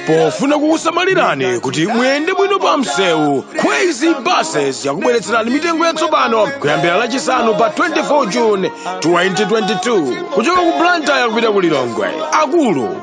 pofuna kukusamalirani kuti muyende bwino pa msewu crazy buses yakubweretserani mitengo yatsopano kuyambira lachisanu pa 24 june 2022 kuchoka ku blantyre kupita ku lilongwe akulu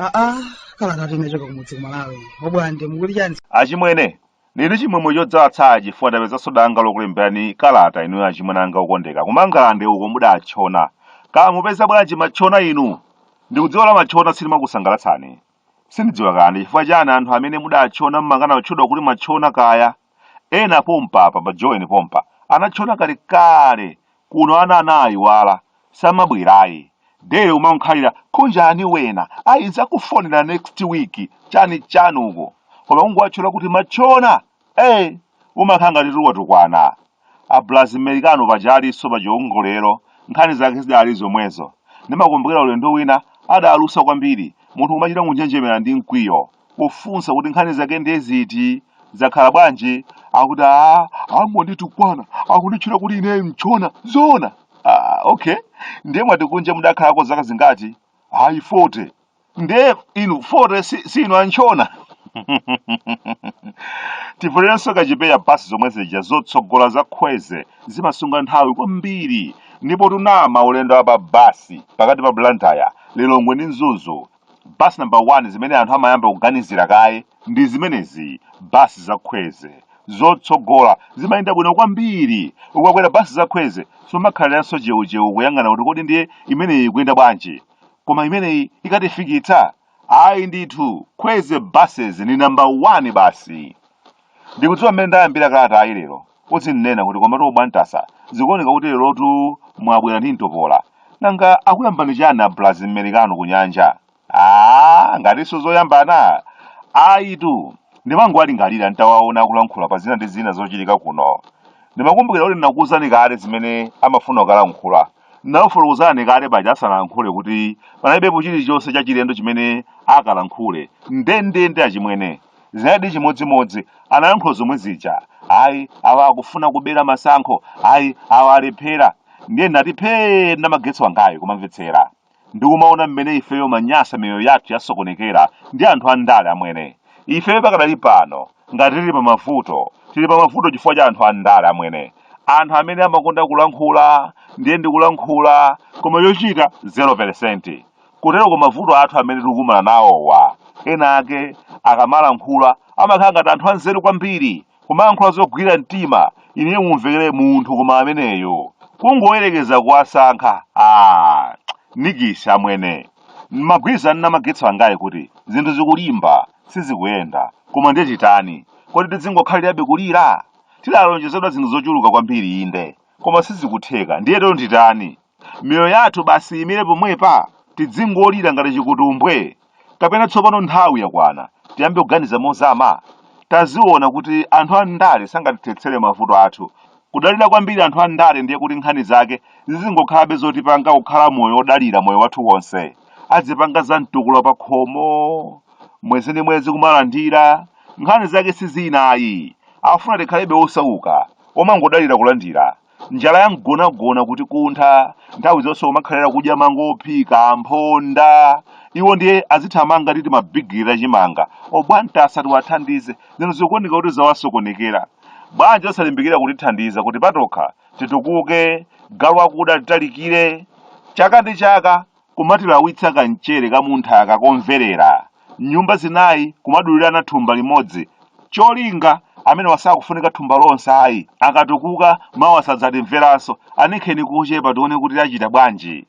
aa kala kati unachoka kumudzi kumalawi obwande mukuti chani achimwene nili chimwemwe chodzadza tsaya chifukwa ndapezanso danga lokulemberani kalata inuyo achimwene anga okondeka kumangalande uko mudatchona kaya mupeza bwanji matchona inu ndikudziwa la matchona silimakusangalatsani Sindidziwa kaya ndi chifukwa chani anthu amene mudatchona mmakana kutchedwa kuti mwatchona kaya. Ena pompa apa pa Joweni pompa anatchona kalekale kuno ana anaayiwala samabwera ayi. Daily kumangokhalira khunjani wena ayi nzakufonera next week chani chani uko koma kungowatchula kuti matchona Ee! umakhala ngati kuti watukwana a Blaz-Mericano paja alinso pa chiongolero, nkhani zake zidali zomwezo. Ndimakumbukira ulendo wina adalusa kwambiri, munthu kumachita kunjenjemera ndi mkwiyo, kufunsa kuti nkhani zake ndiye ziti? Zakhala bwanji? Akuti aah, angonditukwana, akunditchula kuti ineyo mtchona. Zoona? Aah, okay. Ndiye mwati kunja mudakhalako zaka zingati? Ayi, 40. nde inu 40 si, si inu amtchona tivulirenso kachipewa basi zomwe zija zotsogola za khweze zimasunga nthawi kwambiri ndipo kunama ulendo wa pa basi pakati pa blantyre lilongwe ndi mzuzu basi namba 1 zimene anthu amayamba kuganizira kaye ndi zimenezi basi za khweze zotsogola zimayenda bwino kwambiri ukakwera basi za khweze sumakhaliranso cheucheu kuyang'ana kuti kodi ndiye imeneyi ikuyenda bwanji koma imeneyi ikatifikitsa ayi ndithu khweze buses ni namba 1 basi ndikudziwa mmene ndayambira kalatayi lero udzinena kuti komatu ubwantasa zikuoneka kuti lerotu mwabwera ndi mtopola nanga akuyambani chani abulazi mmerikano kunjako a ngatinso zoyambana ayitu ndimangowalingalira nditawaona akulankhula pa zina ndi zina zochitika kuno ndimakumbukira kuti ndinakuwuzani kale zimene amafuna kukalankhula Ndinakufotokozerani kale paja asanalankhule kuti panalibepo chilichonse chachilendo chimene akalankhule. Ndendende achimwene. Zinalidi chimodzimodzi. Analankhula zomwe zija. Ayi, awa akufuna kubera masankho. Ayi, awa alephera. Ndiye ndinati phee ndi magetsi angayo kumamvetsera. ndikumaona mmene ifeyo manyasa miyoyo yathu yasokonekera ndi anthu andale amwene ifeyo pakadali pano ngati tili pa mavuto tili pa mavuto chifukwa cha anthu andale amwene anthu amene amakonda kulankhula ndiye ndikulankhula koma yochita 0 kotero kuti mavuto athu amene tikukumana nawowa ena ake akamalankhula amakhala ngati anthu anzeru kwambiri kumayankhula zogwira mtima ine mumvekere munthu koma ameneyo kungoyerekeza kuwasankha a nikisi amwene mumagwidwa nawo magetsi angayi kuti zinthu zikulimba sizikuyenda koma ndiye titani kodi tidzingokhalirabe kulira tidalonjezedwa zinthu zochuluka kwambiri inde koma sizikutheka ndiye lero nditani miyoyo yathu basi iyimire pomwepa tidzingolira ngati chikutumbwe kapena tsopano nthawi yakwana tiyambe kuganiza mozama taziona kuti anthu a ndale sangatithetsere mavuto athu kudalira kwambiri anthu a ndale ndiye kuti nkhani zake zizingokhalabe zotipanga kukhala moyo wodalira moyo wathu wonse adzipanga za mtukula pa khomo mwezi ndi mwezi kumalandira nkhani zake si izi nayi afuna tikhalebe osauka omangodalira kulandira njala ya mgonagona kuti kumtha nthawi zonse kumakhalira kudya mango ophika mphonda iwo ndiye azithamanga ndi timabigiri ta chimanga obwanta asati atithandize zinthu zikuoneka kuti zawasokonekera bwanji osalimbikira kutithandiza kuti patokha titukuke galu wakuda atitalikire chaka ndi chaka kumatilawitsa kamchere ka mnthaka kakomverera. Nyumba zinayi kumadulirana thumba limodzi. Cholinga, Amenewa sakufunika thumba lonse ayi. Akatukuka, mawa sadzatimveranso. Aninkheni kochepa tione kuti achita bwanji.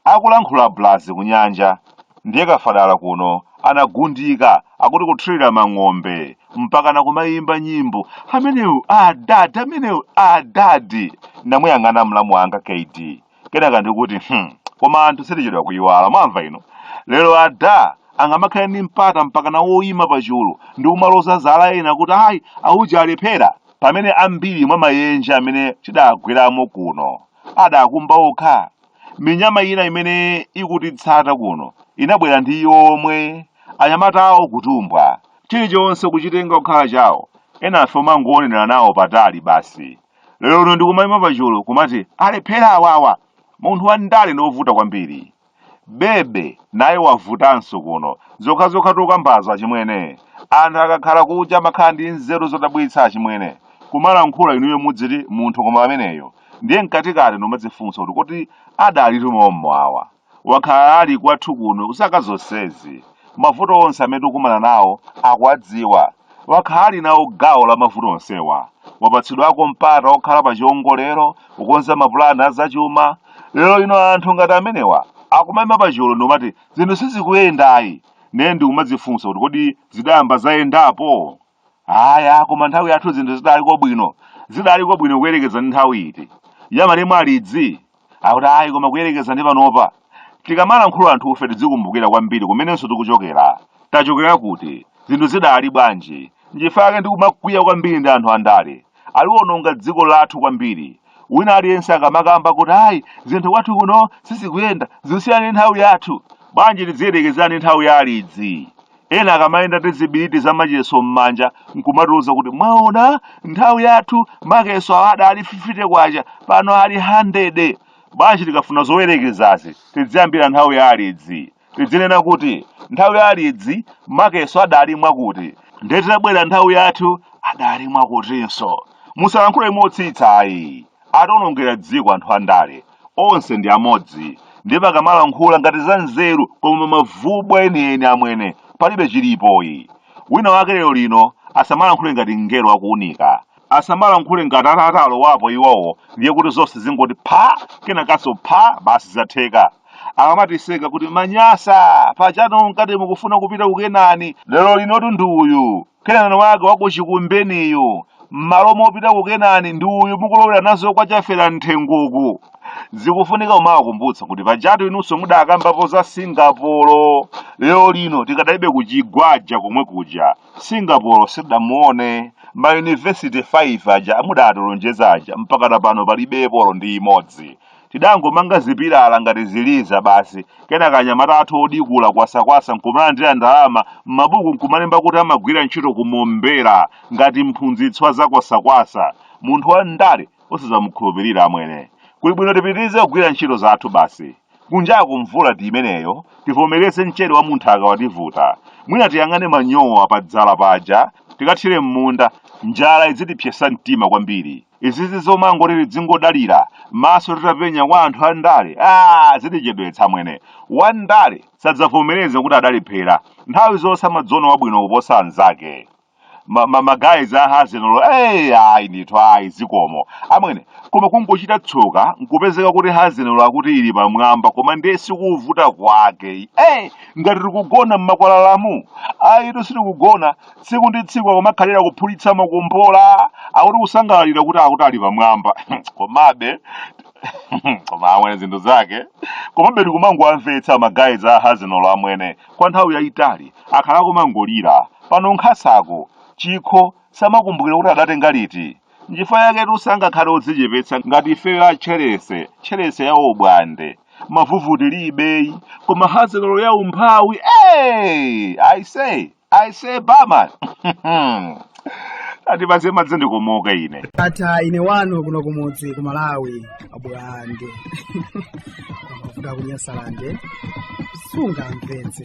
Akulankhula Blazi kunyanja. Ndiye Kafadala kuno anagundika akuti kuthirira mang'ombe mpakana kumayimba nyimbo amenewo adadi amenewo adadi. Ndamuyang'ana mlamu wanga Kd. kenaka ndikuti hmm, koma anthu sitichedwa kuyiwala mwamva ino lero ada angamakhale ndi mpata mpakana oyima pa chulu ndi kumaloza zala ena kuti ayi auja alephera pamene ambiri mwa mayenje amene tidagweramo kuno adakumba okha minyama ina imene ikutitsata kuno inabwera ndi iwo omwe anyamata awo kutumbwa chilichonse kuchitenga kukhala chawo enafe omangoonera nawo patali basi lero lino ndikumayima pachulu kumati alephera awawa munthu wa ndale ndi wovuta kwambiri bebe naye wavutanso kuno zokhazokha tokambazo achimwene anthu akakhala kuja amakhala ndi nzeru zodabwitsa achimwene kumalankhula inuyo mudziti munthu koma ameneyo ndiye mkatikati ndimadzifunsa kuti kodi adalitu mommo awa Wakhala ali kwathu kuno zaka zonsezi. Mavuto onse amene tikukumana nawo akuwadziwa. Wakhala ali nawo gawo la mavuto onsewa. Wapatsidwako mpata wokhala pa chiwongolero, kukonza mapulani a zachuma. Lero lino anthu ngati amenewa akumaima pa chulu ndikumati zinthu sizikuyenda ayi! Ndiye ndikumadzifunsa kuti kodi zidayamba zayendapo? aya koma nthawi yathu zinthu zidaliko bwino zidaliko bwino kuyerekeza ndi nthawi iti ya malemu alidzi akuti ayi koma kuyerekeza ndi panopa tikamalankhula anthufe tidzikumbukira kwambiri kumenenso tikuchokera tachokera kuti zinthu zidali bwanji nchifukwa chake ndikumakwiya kwambiri ndi anthu andale aliwononga dziko lathu kwambiri wina aliyense akamakamba kuti ayi zinthu kwathu kuno sizikuyenda zikusiyana ndi nthawi yathu bwanji tidziyerekeza ndi nthawi ya alidzi Ena akamayenda ndi zibiriti za macheso m'manja n'kumatiuza kuti, Mwaona, nthawi yathu macheso awa adali 50 kwacha, pano ali 100. Bwanji tikafuna zoyerekezazi tidziyambira nthawi ya alidzi? Tidzinena kuti, Nthawi ya alidzi macheso adali mwakuti, ndiye titabwera nthawi yathu adali mwakutinso. Musalankhule motsitsa ayi. ationongera dziko anthu andale onse ndi amodzi ndipo akamalankhula ngati za nzeru koma mavubwa enieni amwene palibe chilipo ayi wina wake lero lino asamalankhule ngati mngelo wa kuunika asamalankhule ngati atalowapo iwowo ndiye kuti zonse zingoti pha kenakanso pha basi zatheka akamatiseka kuti manyasa pajatu munkati mukufuna kupita ku kenani lero linotu ndi uyu Kenani wake wa ku chikumbeniyu, m'malo mopita ku Kenani ndi uyu mukulowera nazo kwa chafera m'thengoku. Zikufunika kumawakumbutsa kuti pajatu inunso mudakambapo za Singapore. Lero lino tikadalibe kuchigwaja komwe kuja. Singapore sitidamuone. Mayunivesite 5 aja mudatilonjeza aja mpakana pano palibepo olo ndi imodzi. Tidangomanga zipilala ngati ziliza basi, kenaka anyamata athu odikula kwasakwasa nkumalandira ndalama m'mabuku nkumalemba kuti amagwira ntchito ku Mombera ngati mphunzitsi wa za kwasakwasa. Munthu wa ndale osazamukhulupirira amwene. Kuli bwino tipitirize kugwira ntchito zathu basi. Kunjaku mvula ndi imeneyo, tivomereze mchere wa munthaka wativuta. Mwina tiyang'ane manyowa padzala paja, tikathire m'munda, njala idzitipsetsa mtima kwambiri. izizi zomangoti tidzingodalira maso titapenya kwa anthu a ndalewa zitichedwetsa amwene wa ndale sadzavomereze kuti adalephera nthawi zonse amadziona wabwino kuposa anzake ma, ma, ma guys a Arsenal eyi ayi ndithu ayi zikomo amwene koma kungochita tsoka nkupezeka kuti Arsenal akuti ili pamwamba koma ndiye sikuvuta kwake eyi ngati tikugona m'makwalalamu ayitu sitikugona tsiku ndi tsiku akumakhalira kuphulitsa makombola akuti kusangalalira kuti akuti ali pamwamba komabe koma amwene zinthu zake komabe tikumangowamvetsa magayizi a hazinolo amwene kwa nthawi yayitali akhala kumangolira pano nkhasako chikho samakumbukira kuti adatenga liti nchifukwa yake sangakhale odzichepetsa ngati ifeyo a tcherese tcherese ya ubwande mavuvu tilibeyi koma hazinolo ya umphawi ey i say I say barman. Ati basi madzi ndikomoka ine. ata ine wanu kuno kumudzi ku malawi abwande amavuvu kunyasalande sunga mpenzi